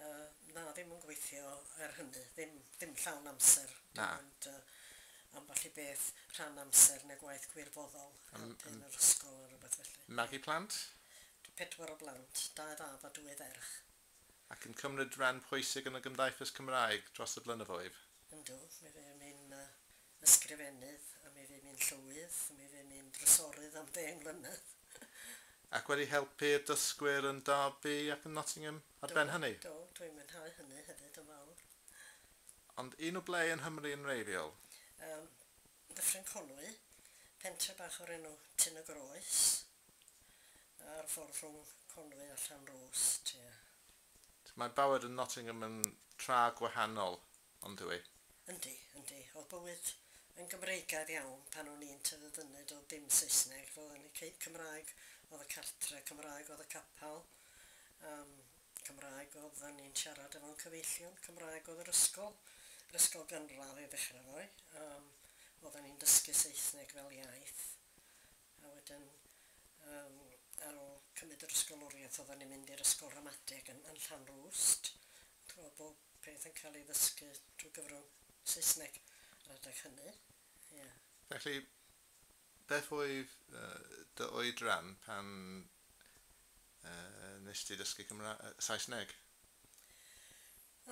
Yy, na, ddim yn gweithio er hynny. Ddim, ddim llawn amser. Na. Dim ond yy ambell i beth rhan amser neu gwaith gwirfoddol helpu yn yr ysgol a rywbeth felly. Magu plant? Dw- pedwar o blant, dau fab a dwy ferch. Ac yn cymryd ran pwysig yn y gymdaithas Cymraeg dros y blynyddoedd? Yndw, mi fuon ni'n yy Ysgrifennydd, a mi fu mi'n llywydd, mi fu mi'n drysorydd am ddeng mlynedd. Ac wedi helpu'r dysgwyr yn Derby ac yn Nottingham ar ben hynny? Do, do, dwi'n mwynhau hynny hefyd yn fawr. Ond un o ble yn Nghymru yn wreiddiol? Yym, Dyffryn Conwy, pentre bach o'r enw Tyn y Groes, ar y ffordd rhwng Conwy a Llanrwst, ie. Mae bywyd yn Nottingham yn tra gwahanol, ond yw hi? Yndi, yndi. O'dd bywyd yn Gymreigaidd iawn pan o'n i'n tyfu fyny, do'dd dim Saesneg, ro'dd yn y cei- Cymraeg o'dd y cartre, Cymraeg o'dd y capal, yym Cymraeg o'ddan ni'n siarad efo'n cyfeillion, Cymraeg o'dd yr ysgol, yr ysgol gynradd i ddechra' 'fo, yym o'ddan ni'n dysgu Saesneg fel iaith. A wedyn yym ar ôl cymryd yr ysgoloriaeth oeddan ni'n mynd i'r ysgol ramadeg yn yn Llanrwst, yn clywed bob peth yn cael ei ddysgu drwy gyfrwng Saesneg yr adeg hynny, ie. Felly, beth oedd dy oedran pan yy wnes ti ddysgu Cymra- yy Saesneg?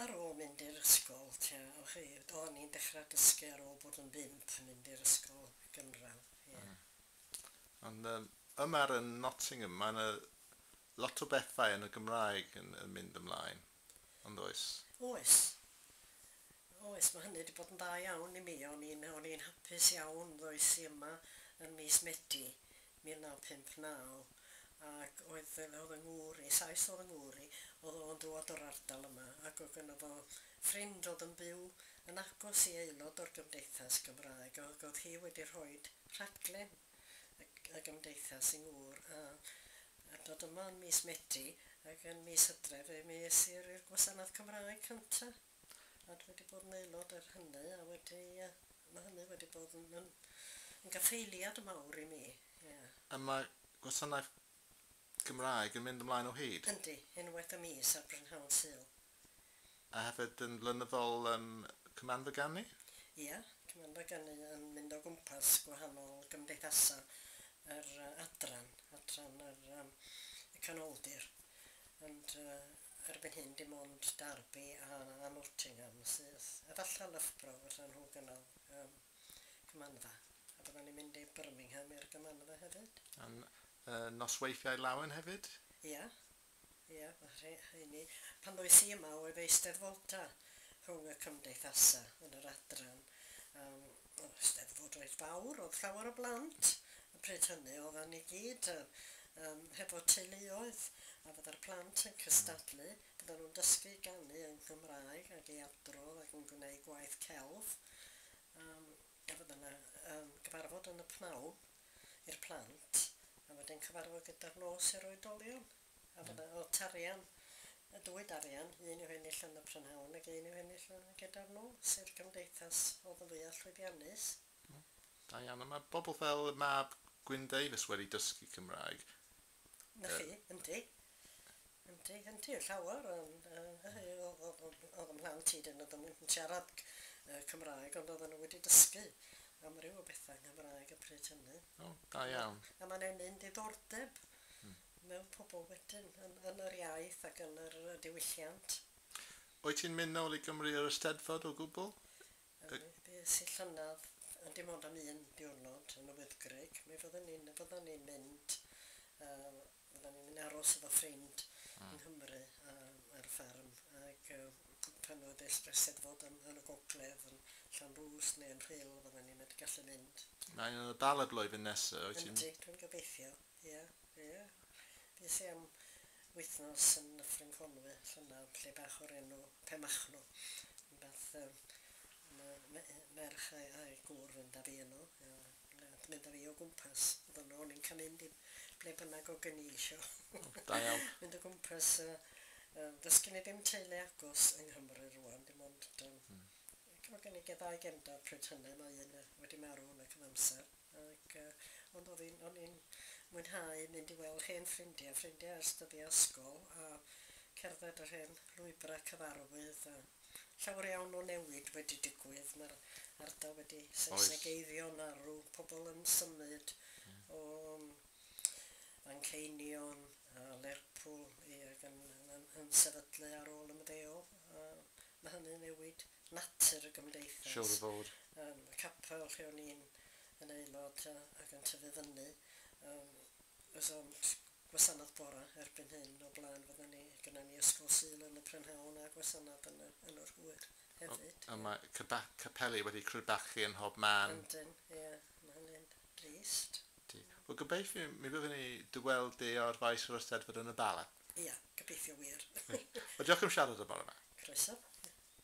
Ar ôl mynd i'r ysgol tua, o chi, do, o'n i'n dechrau dysgu ar ôl bod yn bump, mynd i'r ysgol gynradd, ie. Ond yym, yma ar y Nottingham, mae 'na lot o bethau yn y Gymraeg yn yn mynd ymlaen, ond oes? Oes. Oes, mae hynny 'di bod yn dda iawn i mi, o'n i'n o'n i'n hapus iawn ddois i yma yn mis Medi, 1959, ac oedd fe oedd yng ngŵr i, Sais oedd yng ngŵr i, oedd o'n dŵad o'r ardal yma, ac oedd gynno fo ffrind oedd yn byw yn agos i aelod o'r Gymdeithas Gymraeg, ac oedd hi wedi rhoid rhaglen y y Gymdeithas i ngŵr, a a dod yma yn mis Medi, ac yn mis Hydref, mi es i i'r i'r gwasanaeth Cymraeg cynta. A dwi wedi bod yn aelod er hynny a wedi yy ma' hynny wedi bod yn yn yn gaffaeliad mawr i mi, ie. A mae gwasanaeth Gymraeg yn mynd ymlaen o hyd? Yndi, unwaith y mis ar brynhawn Sul. A hefyd yn flynyddol yn Cymanfa Ganu? Ia, Cymanfa Ganu yn mynd o gwmpas gwahanol gymdeithasau yr yy adran, adran yr yym y Canoldir. Ond yy Erbyn hyn dim ond Derby a a Nottingham sydd efallai Loughborough fysa nhw gynnal y Cymanfa a byddan ni'n mynd i Birmingham i'r Gymanfa hefyd. A'n nosweithiau lawen hefyd? Ia, ia ma' rhe- rheini. Pan ddois i yma oedd Eisteddfota rhwng y cymdeithasa yn yr adran yym. O'dd y Steddfod reit fawr, o'dd llawer o blant y pryd hynny, oeddan ni gyd yy yym hefo teuluoedd a fydda'r plant yn cystadlu, fyddan nhw'n dysgu i ganu yng Nghymraeg ac i adrodd ac yn gwneud gwaith celf yym a fydda 'na yym gyfarfod yn y pnawn i'r plant a wedyn cyfarfod gyda'r nos i'r oedolion. A bod 'na lot arian, y dwyd arian, un i'w hennill yn y prynhawn ac un i'w hennill yn gyda'r nos i'r cymdeithas o'dd yn fwya' llwyddiannus. O, da iawn. A ma' bobl fel mab Gwyn Davies wedi dysgu Cymraeg? 'Na chi, yndi. Yndi, yndi, yn llawer ond yy yy o'dd o'dd o'dd o'dd 'y mhlant i 'dyn nw ddim yn siarad c- yy Cymraeg ond o'ddan nw wedi dysgu amryw o betha yng Nghymraeg y pryd hynny. O, da iawn. A ma' 'na un un diddordeb. Hmm. mewn pobl wedyn, yn yn yr iaith ac yn yr yy diwylliant. Wyt ti'n mynd nôl i Gymru yr Eisteddfod o gwbl? Yy Yy bues i llynedd, ond dim ond am un diwrnod yn y Wyddgrug. Mi fydden ni'n fyddan ni'n mynd yy fyddan ni'n mynd i aros efo ffrind yng Nghymru yym ar y fferm ag yy pan oedd y Eist- Eisteddfod yn yn y gogledd yn Llanrwst neu yn Rhyl fydden ni mynd gallu mynd. Mae un yn y Bala blwyddyn nesa, wyt ti'n? Yndi, dwi'n gobeithio. Ie, ie. Des i am wythnos yn Nyffryn Conwy llynedd, lle bach o'r enw Penmachno. Rhywbeth yy am y me- yy merch a'i a'i gŵr fynd â fi yno. Yy ble nath mynd â fi o gwmpas. O'dd o'n o'n i'n ca'l mynd i ble bynnag o gen i isio. O, da iawn. Mynd o gwmpas yy yy does gen i ddim teulu agos yng Nghymru rŵan, dim ond yym... Hmm. Ac mae gennyf ddau gefnder pryd hynny, mae un wedi marw yn y cyfamser, ac ond oedd hi'n... o'n i'n mwynhau mynd i weld hen ffrindiau, ffrindiau ers dyddiau ysgol, a cerdded yr hen lwybrau cyfarwydd, a llawer iawn o newid wedi digwydd, mae'r ardal wedi Saesegeiddio, marw, pobl yn symud o Fanceinion a Lerpwl, ie, ac yn sefydlu ar ôl ymddeol, a Mae hynny'n newid natur y gymdeithas. Siŵr o fod. Yym, y capel lle o'n i'n yn aelod a ac yn tyfu fyny, yym, oes o'm gwasanaeth bore erbyn hyn, o blaen fydden ni, gynna ni ysgol Sul yn y prynhawn a gwasanaeth yn y yn yr hwyr hefyd. Ond mae cyba- capeli wedi crebachu yn mhob man. Yndyn, ie, mae hynny'n drist. Ydy. Wel, gobeithiwn, mi fyddwn ni dy weld di ar faes yr Eisteddfod yn y Bala. Ia, gobeithio wir. Reit. Wel, diolch am siarad y bore 'ma. Croeso.